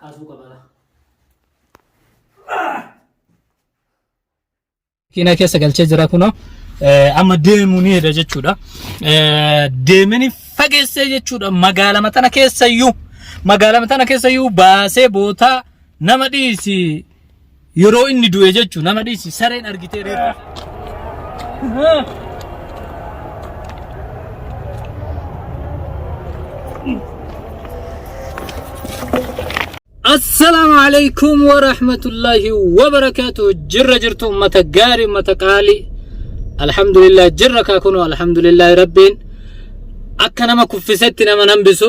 kaasuu qaba laa. Kiina keessa galchee jira kunoo eh, amma deemuu ni heda jechuudha. Eh, Deemini fageessee jechuudha magaalama tana keessayyuu magaalama tana keessayyuu baasee bootaa nama dhiisi Yeroo inni du'e jechu nama dhiisi sareen argitee reeffa. Assalaamu alaikum wa rahmatullahi wa barakaatu jirra jirtu ummata gaarii ummata qaalii alhamdulillah jirra kaa kunoo alhamdulillahi rabbiin akka nama kuffisetti nama nambisu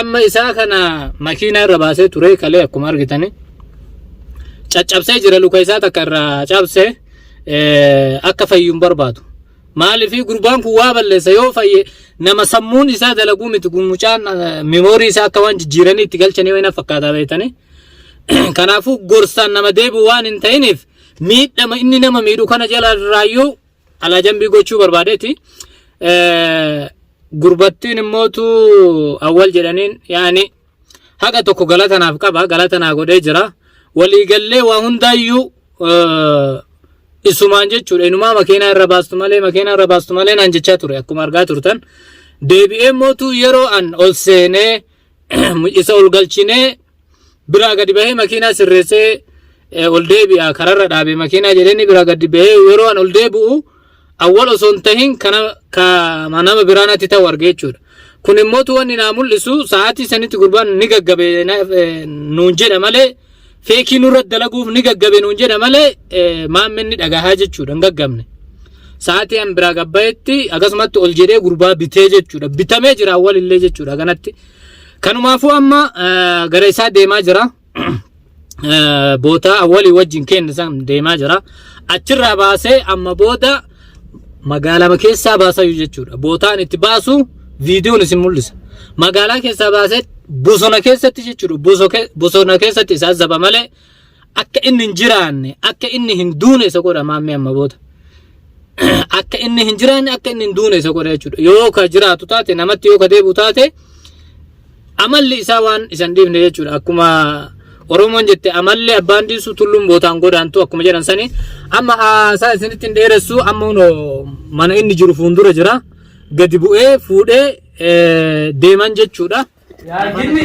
amma isaa kana makiinaa irra baasee ture kalee akkuma argitani caccabsee jira luka isaa takka irraa cabse akka fayyuun barbaadu maaliifii gurbaan kun waa balleessa yoo fayye nama sammuun isaa dalaguu miti kun mucaan memoorii isaa akka waan jijjiiranii itti galchanii wayina fakkaataa beektanii kanaafuu gorsaan nama deebi'u waan hin ta'iniif miidhama inni nama miidhu kana jala irraayyuu alaa jambii gochuu barbaadeeti gurbattiin immootu awwal jedhaniin yaani haqa tokko galata naaf qaba galata naa godhee jira waliigallee waa hundaayyuu isumaan jechuudha inumaa makiinaa irra baastu malee makiinaa irra baastu malee naan jechaa ture akkuma argaa turtan deebi'ee mootu yeroo an ol seenee isa ol galchinee biraa gadi bahee makiinaa sirreessee ol deebi'a kararra dhaabe makiinaa jedheenni biraa gadi bahee yeroo an ol deebi'u awwal osoo hin tahin kana ka nama biraa natti ta'u arge jechuudha. Kun immoo wanni naa mul'isu sa'aatii sanitti gurbaan ni gaggabe nuun jedha malee feekii nurratti dalaguuf ni gaggabe nuun jedha malee maammeen ni dhagahaa jechuudha hin gaggabne. Sa'aatii an biraa gabbayetti akkasumatti ol jedhee gurbaa bitee jechuudha bitamee jira awwalillee jechuudha kanatti. Kanumaafuu amma gara isaa deemaa jira. Bootaa awwalii wajjin keenya san deemaa jira. Achirraa baasee amma booda magaalama keessaa baasayu jechuudha. Bootaan itti baasu viidiyoon isin mul'isa. Magaalaa keessaa baasee bosona keessatti jechuudha. Boso- ke- Bosona keessatti isaa zaba malee akka inni hin jiraanne akka inni hin duune isa godha maammee amma booda. Akka inni hin jiraanne akka inni hin duune isa godha jechuudha. Yoo ka jiraatu taate namatti yoo ka deebi'u taate Amalli isaa waan isan dhiifne jechuudha. Akkuma Oromoon jette amalli abbaan dhiisu tulluun bootaan godaantu akkuma jedhan sani. Amma haasaa isinitti hin dheeressu amma kunoo mana inni jiru fuuldura jira. Gadi bu'ee fuudhee eh, deeman jechuudha. Yaa jinni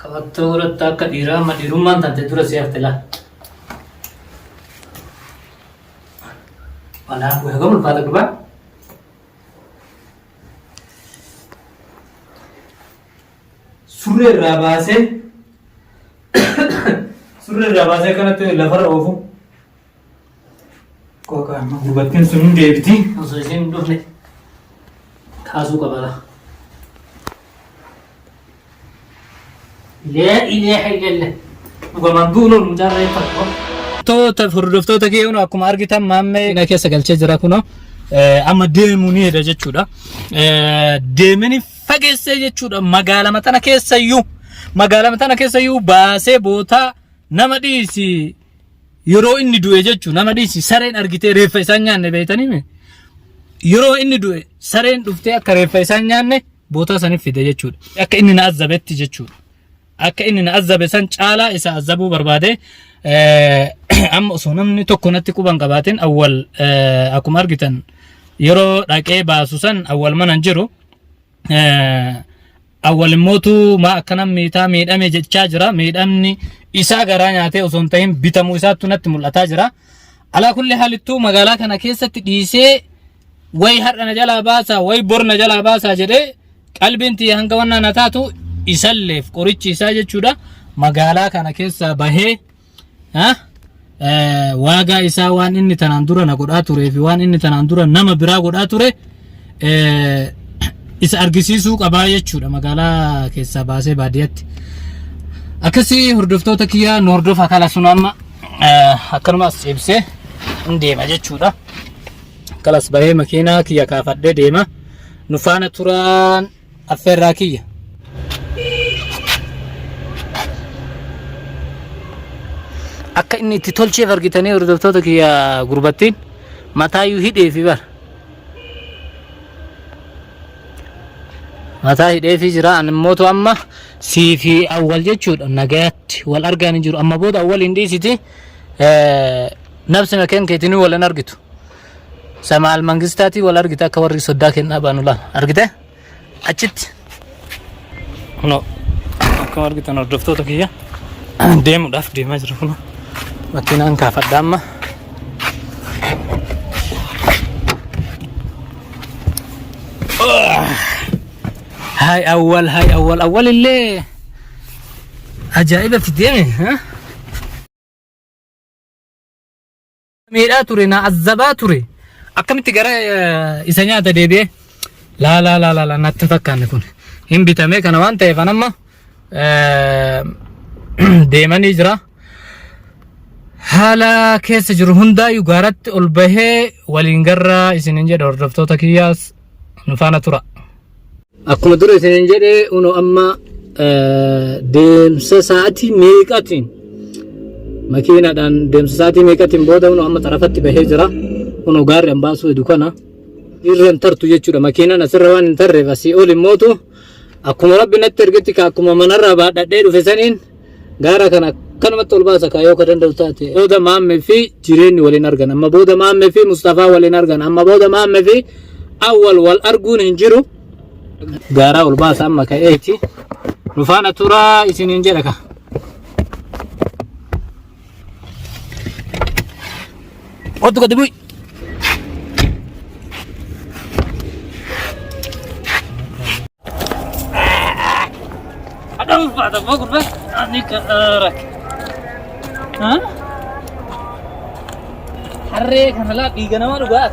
Qabattoo godhatta akka dhiiraa amma dhiirummaan taate dura si hafte laa. Manaa kun hagam ulfaata gurbaa? Surree irraa baasee surree irraa baasee kanatti lafarra oofu. Kooka amma gurbattiin sun hin deebiti. Osoo isheen hin dhufne kaasuu qaba laa. Lee ilee hayyelle. Dhugamaan duuloon mucaan reeffa tokko. Toota hordoftoota kee kunoo akkuma argitan maammee na keessa galchee jira kunoo eh, amma deemuu ni heda jechuudha. Eh, Deemini fageessee jechuudha magaalama tana keessayyuu magaalama tana keessayyuu baasee bootaa nama dhiisi yeroo inni du'e jechu nama dhiisi sareen argitee reeffa isaan nyaanne beeytanii mee yeroo inni du'e sareen dhuftee akka reeffa isaan nyaanne bootaa saniif fide jechuudha akka inni na azzabetti jechuudha akka inni na azzabe san caalaa isa azzabuu barbaade eh, amma osoo namni tokko natti quban qabaatin awwal eh, akkuma argitan yeroo dhaqee baasu san awwal manan jiru awwal immootu maa akkana miitaa miidhame jechaa jira miidhamni isaa garaa nyaatee osoo hin ta'in bitamuu isaattu natti mul'ataa jira alaa kulli haalittuu magaalaa kana keessatti dhiisee way har'a na jalaa baasaa way bor na jalaa baasaa jedhee qalbiin tiyya hanga wannaa na taatu isalleef qorichi isaa jechuudha magaalaa kana keessaa bahee Ha? Eh, waagaa isaa waan inni tanaan dura na godhaa turee fi waan inni tanaan dura nama biraa godhaa ture eh, isa argisiisuu qabaa jechuudha magaalaa keessaa baasee baadiyyaatti. Akkasii hordoftoota kiyyaa nu hordofa kala sun amma eh, akkanuma as ciibsee hin deema jechuudha. Kalas bahee makiinaa kiyya kaafadhee deema. Nu faana turaan Affeerraa kiyya. Akka inni itti tolcheef argitanii hordoftoota kiyya gurbattiin mataayyuu hidheefi bara. Mataa hidheefi jira ani immootu amma sii fi awwal jechuudha nagayaatti wal argaa ni jiru amma booda awwal hin dhiisiti eh, nabsima keen keetinuu wal hin argitu. Samaal Mangistaatii wal argite akka warri soddaa kennaa baanu laal. Argite? Achitti. Kunoo akkuma argitan hordoftoota kiyya deemuudhaaf deemaa jira kunoo. Makiinaan kaafadha amma. Haay awwal haay awwal awwal illee ajaa'ibatti deeme. ha? miidhaa ture na azzabaa ture akkamitti gara eh, isa nyaata deebi'ee laa laa laa laa laa natti hin fakkaanne kun hin bitamee kana waan ta'eef an amma eh, deemanii jira haala keessa jiru hundaayyuu gaaratti ol bahee waliin garraa isinin jedha hordoftoota kiyyaas nu faana tura. Akkuma dura isiniin jedhe uno amma deemsa sa'aatii meeqatiin makiinaadhaan deemsa sa'aatii meeqatiin booda uno amma xarafatti bahee jira. Uno gaarri an baasuu hedu kana irra hin tartu jechuudha. Makiinaan asirra waan hin tarreef asii ol hin mootu. Akkuma rabbi natti ergetti akkuma manarraa baadhadhee dhufe saniin gaara kana akkanumatti ol baasa kaayoo ka danda'u taate booda maamme fi jireenyi waliin argan amma booda maamme fi mustafaa waliin argan amma booda maamme fi awwal wal arguun hin jiru gaaraa ol baasa amma ka'eeti nufaana turaa isiniin jedha ka Otu gadi bu'i. Adam pada mau kurba ani ke arah. Hah? Harre kana la tiga nama lu gas.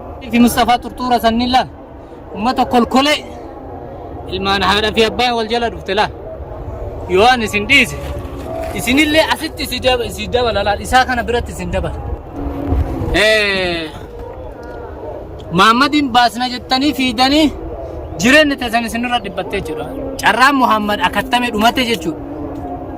fi Mustafaa Turtuura sanni laal ummata kolkolee ilmaan haadha fi abbaan wal jala dhufte laal yoo an isin dhiise isinillee asitti si daba- si dabala laal isaa kana biratti isin dabala. Eh, Muhammadiin baasna jettanii fiidanii jireenyi teessan isinirra dhiphattee jira. Carraan Muhammad akkattame dhumate jechuudha.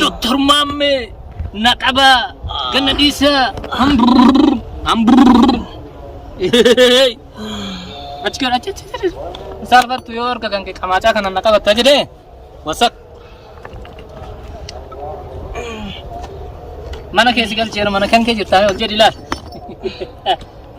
Doktor Maammee na qabaa ganna dhiisaa hamburr hamburr. Achi gara achi achi achi. Saalfattu yoo harka kan kee qamaacaa kana na qabatta jedhee wasak. Mana kee si galcheera mana kan kee jirtaa ol jedhi laal.